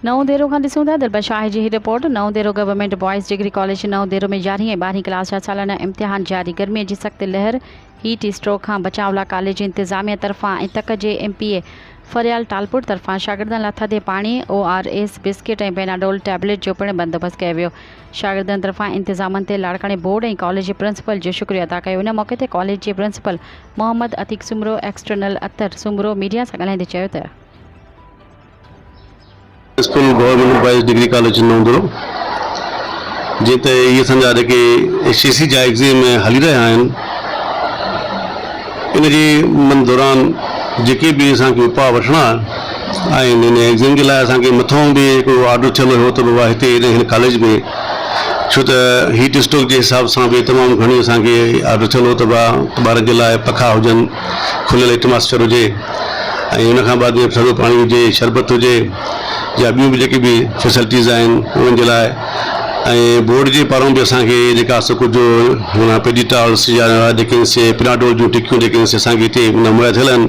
نئون ديرو کان ڏسون ٿا دربه شاهه جي هي report Naundero government boys degree college جي نئون ديرو ۾ يارهين ۽ ٻارهين ڪلاس جا سالانه امتحان جاري گرمي جي سخت لهر هيٽ اسٽروڪ کان بچاء لا ڪاليج جي انتظاميه طرفان ۽ تڪ جي M P A Faryal Talpur طرفان شاگردن لا ٿڌي پاڻي O R S biscuit ۽ Panadol tablet جو پڻ بندوبست ڪيو ويو شاگردن طرفان انتظامن تي لاڙڪاڻي بورڊ ۽ ڪاليج جي پرنسپل جو شڪريو ادا ڪيو ان موقعي تي ڪاليج جي principal Muhammad Atiq Soomro external Attar Soomro media سان ڳالهائيندي چيو ته. School government boys degree college Naundero جيئن ته اهي اسان جا جيڪي شي سي جا ايگزيم هلي رهيا آهن ان جي من دوران جيڪي به اسان کي اپاء وٺڻا آهن ان ايگزيم جي لاء اسان کي مٿئون به هڪڙو آرڊر ٿيل هيو ته بابا هتي هن ڪاليج ۾ ڇو ته هيٽ اسٽوڪ جي حساب سان به تمام گهڻي اسان کي آرڊر ٿيل هو ته ٻارن جي لاء پکا هجن، کليل ايٽماسفيئر هجي ۽ ان کان بعد ٿڌو پاڻي هجي، شربت هجي يا ٻيون به جيڪي به فيسلٽيز آهن انهن جي لاء ۽ بورڊ جي پارون به اسان کي جيڪا سو ڪجهه هن پيڊيٽالس يا ڊڪنس پيناڊول جون ٽڪيون جيڪي اسان کي هتي مهيا ٿيل آهن.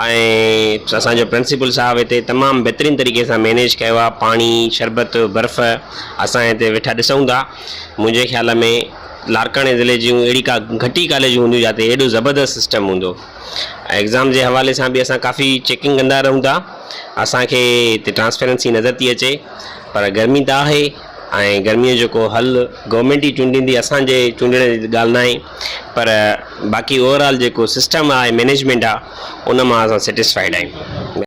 ۽ اسان جو پرنسپل صاحب هتي تمام بهترين طريقي سان مينيج ڪيو آهي پاڻي شربت برف اسان هتي ويٺا ڏسون ٿا منهنجي خيال ۾ لاڙڪاڻي ضلعي جون اهڙي ڪا گهٽ ئي ڪاليجون هونديون جتي اهڙو زبردست سسٽم هوندو ۽ ايگزام جي حوالي سان بي اسان ڪافي چيڪنگ ڪندا رهون ٿا اسانکي هتي ٽرانسپيرنسي نظر ٿي اچي پر گرمي ته آهي ۽ گرمي جو ڪو حل گورمينٽ ئي چونڊيندي اسانجي چونڊڻ جي ڳالهه ناهي پر باقي اوور آل جيڪو سسٽم آهي مينيجمينٽ آهي ان مان اسان سيٽسفائيڊ آهيون.